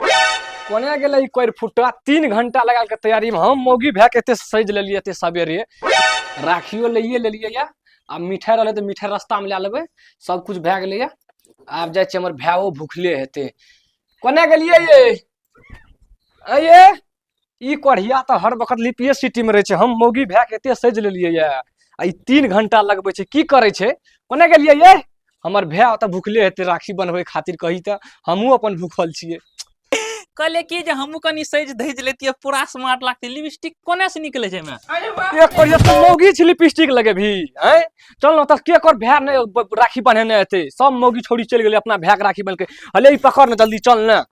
कोने गेलै ई कोरि फुट्टा तीन घंटा लगा के तैयारी में हम मौगी भए के एते सजि लेलियै एते सवेरे राखियो लैए लेलियै यऽ आ मिठाइ रहलै तऽ मिठाइ रस्तामे लए लेबै सब कुछ भए गेलै यऽ आब जाइ छियै हमर भायो भुखले हेतै कोने गेलियै ये अये ई कढ़िया तऽ हर वक्त लिपिए सिटीमे रहै छै हम मौगी भए कऽ एतेक सजि लेलियै यए आ ई तीन घंटा लगबै छै की करै छै कोने गेलियै ये हमर भाय ओतऽ भुखले हेतै राखी बनबै खातिर कही तऽ हमहूँ अपन भूखल छियै कहले की जे हमहूँ कनि सजि धजि लेतियै पूरा स्मार्ट लागतै लिपस्टिक कोने से निकले छै एहिमे अरे वाह एक करिया तू मौगी छी लिपस्टिक लगेबही हैं चल ना तऽ के कर भाय ने ब- राखी बन्हेने हेतै सब मौगी छोड़ी चलि गेलै अपना भायके राखी बन्हके हले ई पकड़ ने जल्दी चल ने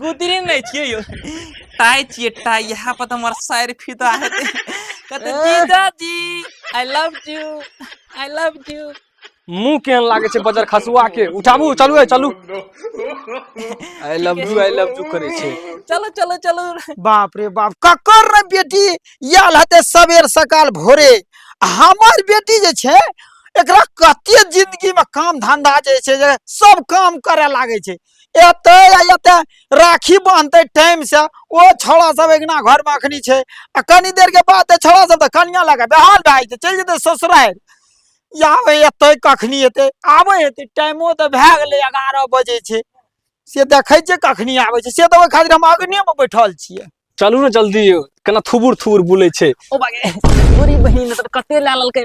गोदरी नहि छियै यौ टाइ छियै टाइ इएह पर तऽ हमर साइर फिदा हेतै कहते जीजा जी I love you I love you मुंह केहन लागे छै बजर खसुआ के उठाबू चलू ए, चलू I love you I love you करे छै चलो चलो चलो बाप रे बाप ककर रे बेटी आयल हेतै सबेर सकाल भोरे आ हमर बेटी जे छै एकरा कते जिंदगी में काम धंधा जे छै जे सब काम करे लागे छै एतै आ एतै राखी बान्हतै टाइमसँ ओ छौड़ा सब अगिना घरमे अखनी छै आ कनी देरके बाद तऽ छौड़ा सब तऽ कनिया लऽ कऽ बेहाल भए जेतै चलि जेतै ससुरारि आबै एतै कखनी एतै आबै हेतै टाइमो तऽ भए गेलै एगारह बजे छै से देखै छियै कखनी आबै छै से तऽ ओहि खातिर हम अग्नेमे बैठल छियै चलू ने जल्दी यौ केना थुबुर थुबुर बुलै छै ओ बागे गोरी बहिन तऽ कते लए लेलकै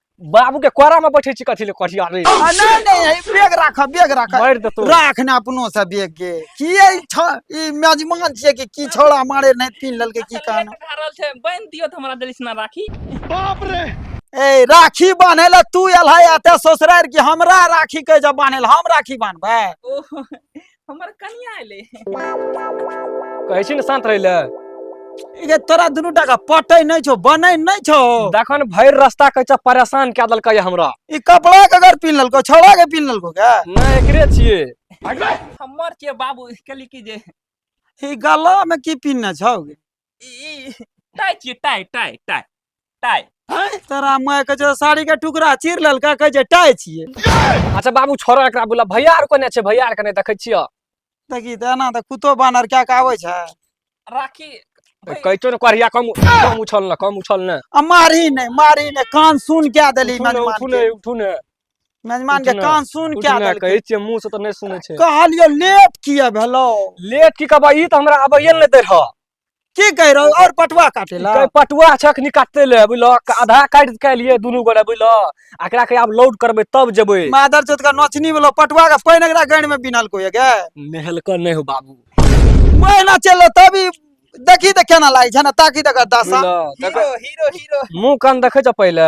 बाबू के कोरा में बैठे छी कथी ले करिया रे आ, नहि नहि है, बेग राख बेग राख मारि देतौ। राख ने अपनो से बेग के की है छ ई मेजमान छियै कि की छौड़ा मारे नहि पीन लेलकै की कान खा रहल छै बांध दियो त हमरा देलिस ना राखी ए राखी बान्हे ला तू एल है एते ससुरार कि हमरा राखी के जब बान्हे ला हम राखी बान्हबै ओह हमर कनिया एले कहै छी ने शान्त रहै लए ई जे तोरा दुनू टाका पटै नहि छौ बनै नहि छौ देखन भरि रास्ता कहै छै परेशान कए देलकै ये हमरा ई कपड़ा के अगर पिन्ह लेलको छौड़ा के पिन्ह लेलको के नहि एकरे छियै हमर छियै बाबू कहली कि जे ई गला में की पिन्हने छौ टाइ छियै टाइ टाइ टाइ टाइ तोरा माय के जो साड़ी के टुकड़ा चीर लेलका कहे जे टाइ छियै अच्छा बाबू छोड़ो एकरा बोला भैया आर कोने छै भैया आर कने देखै छियै देखी तऽ एना तऽ कुत्तो बानर कए के आबै छै राखी कैचो ने करिया कम कम उछल न कम उछल न आ मारही नहि मारही नहि कान सुन कए देली उठू ने मेहमान उठू के। ने उठू ने मेजमान के उठना, कान सुन उठना, क्या कहै छियै मुंह से तऽ नहि सुनै छै कहलियो लेट किया भेलो लेट की कहबा ई तऽ हमरा आबैये नहि दै रह की कह रहो और पटवा काटे ला कै पटुआ छै अखनी काटते ले बुझलो आधा काटि के लिए दुनू गोरे बुझलो एकरा के आब लोड करबै तब जेबै मादर चोत का नोचनी वाला पटवा का पैन एकरा गण में बिनल को ये नहलकर नहीं हो बाबू महीना चलो तभी देखी त केना लागे छै ना ताकि तक दशा बुझलो हीरो हीरो हीरो मुंह कान देखै छ पहिले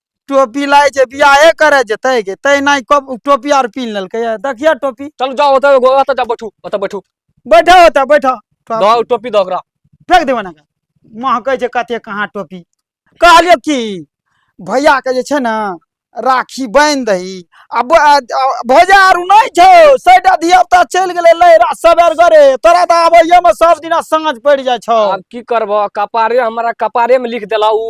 टोपी लाए छै बियाहे करे जेतै गे तै नहि कब टोपी आर पीन लेलकै ये। देखिए टोपी चल जाओ ओतऽ एगो ओतऽ जा बैठू ओतऽ बैठू बैठा होता बैठा दो टोपी दो ओकरा फेंक देबै ने महकै छै कते कहाँ टोपी कहलियो कि भैया के जे छै ने राखी बांधि दही आ ब- आ- आ- भैया आरू नहि छौ सैटा धिया पुता चलि गेलै लहरा सबेर गरे तोरा तऽ आबैये में सब दिना साँझ पड़ि जाइ छौ आब की करबो कपारे हमरा कपारे में लिख देला उ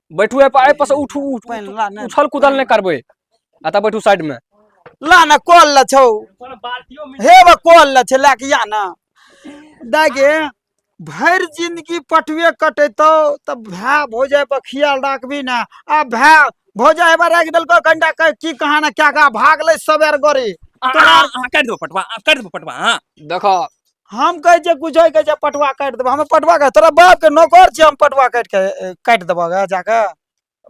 बैठू ए पर ए पर से उठू उठ- पानि ला ने उछल कुदल नहि करबै एतऽ बैठू साइड मे ला ने कॉल ला छौ हे बा कॉल ला छै लए के या ने दागे भरि जिंदगी पटुए कटेतौ तऽ भाय भौजाइ पर खियाल राखबी ने आ भाय भौजाइ हेबा राखि देलकौ कनिटा क- की कहाँ ने क्या कहाँ भागलै सबेर गरी अहाँ अहाँ काटि देबै पटवा अहाँ काटि देबै पटवा अहाँ देखऽ हम कहै छियै किछो कहै छै पटुआ काटि देबह हमे पटुआ काटि तोरा बापके नौकर छियै हम पटुआ काटि कऽ ए, काटि देबह गे जाकऽ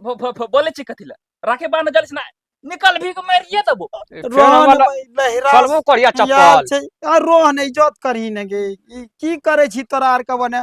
भ- भ- भ- बोले छी कथी लए राखे बांध जलिस ना निकल भी के मारिए देबो रोहन भाई लहरा चलबो करिया यार चप्पल छै आ रोहन इज्जत करही ने गे ई की करै छी तोरा आर के बने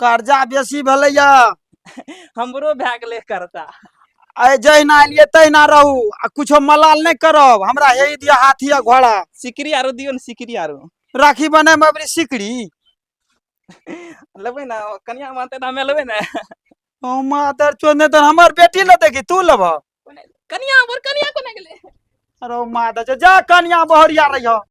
कर्जा बेसी भेलैया हमरो भए गेलै करता आइ जहिना एलियै तहिना रहू आ कुछो मलाल नहि करब हमरा हे दिया हाथी आ घोड़ा सिकरी आरो दियौ ने सिकरी आरो राखी बने में अबरी सिकड़ी लेबै ने कनिया मानते तऽ हमे लेबै ने ओ मादर चोद नहि तऽ हमर बेटी ले देखी तू लेबह कनिया हमर कनिया कोना गेलै अरे ओ मादर चोद जा कनिया बहरिया रहिह